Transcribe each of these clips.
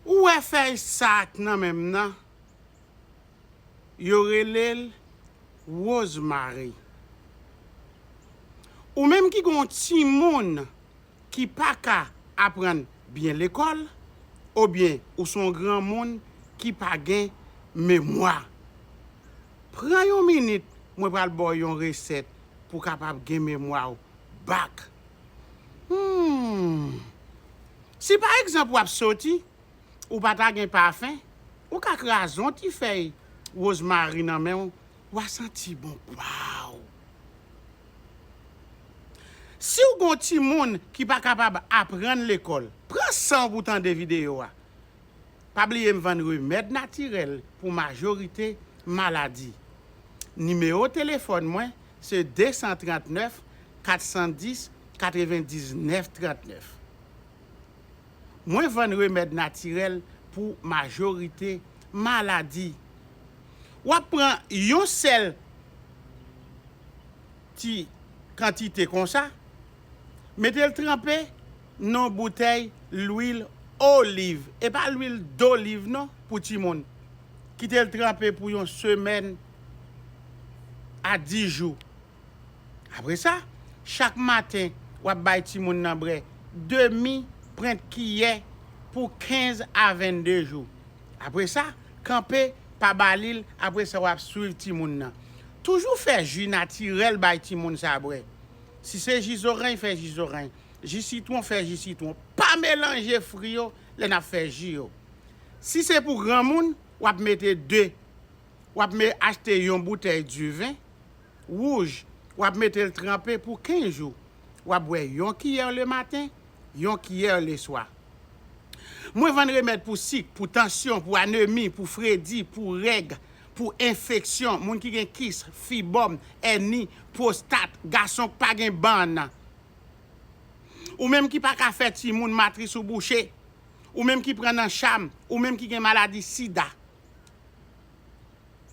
Ou wè fèy sa ak nan menm nan yo relel Rosemary. Ou menm ki gen yon timoun ki paka aprann byen lekòl obyen ou son granmoun ki pa gen memwa. Pran yon minit mwen pral baw yon resèt pou kapab gen memwaw back. Humm si pa egzanp wap soti ou pa ta gen pafen ou ka kraze yon ti fèy rozmari nan menw wa santi bon waww siw gon timoun ki pa kapab aprann lekòl pran sanw pou tande video a. Pa bliye m vann remèd natirèl pou majorite maladi. Nimewo telefòn mwen se 239 410 99 39. Mwen vann remèd natirèl pou majorite maladi. W ap pran yon sèl ti kantite konsa. Mete l tranpe nan boutèy lwil oliv, e pa lwil doliv non pou timoun. Kite l tranpe pou yon semèn a dis jou. Apre sa, chak maten w ap bay timoun nan bre demi prent kiyè pou 15 a 22 jou. Apre sa, kanpe, pa ba li l, apre sa w ap swiv timoun nan. Toujou fè ji natirèl bay timoun sa bre. Si se ji zoreny fè ji zoreny, ji sitwon fè ji sitwon, pa melanje fri yo lè nap fè ji yo. Si se pou granmoun wap mete 2, wap me achte yon boutèy diven wouj wap metel tranpe pou 15 jou wap bwè yon kiyè le maten, yon kiyè leswa. Mwen vann remèd pou sik, pou tansyon, pou anemi, pou fredi, pou règ, pou enfeksyon, moun ki gen kis, fibòm, èni, pwostat, gason k pa gen bann. Ou menm ki pa ka fè timoun, matris ou bouche, ou menm ki pran nan cham, ou menm ki gen maladi sida.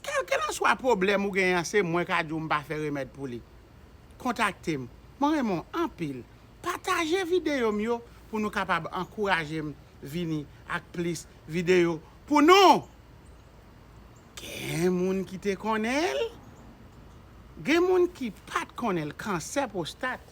Kèlkelanswa pwoblèm ou gen an se mwen ka di w m pa fè remèd pou li. Kontakte m. Mwen renmen w anpil. Pataje videyo m yo pou nou kapab ankouraje m vini ak plis videyo pou nou! Gen moun ki te konnen l? Gen moun ki pat konnen l kansè pwostat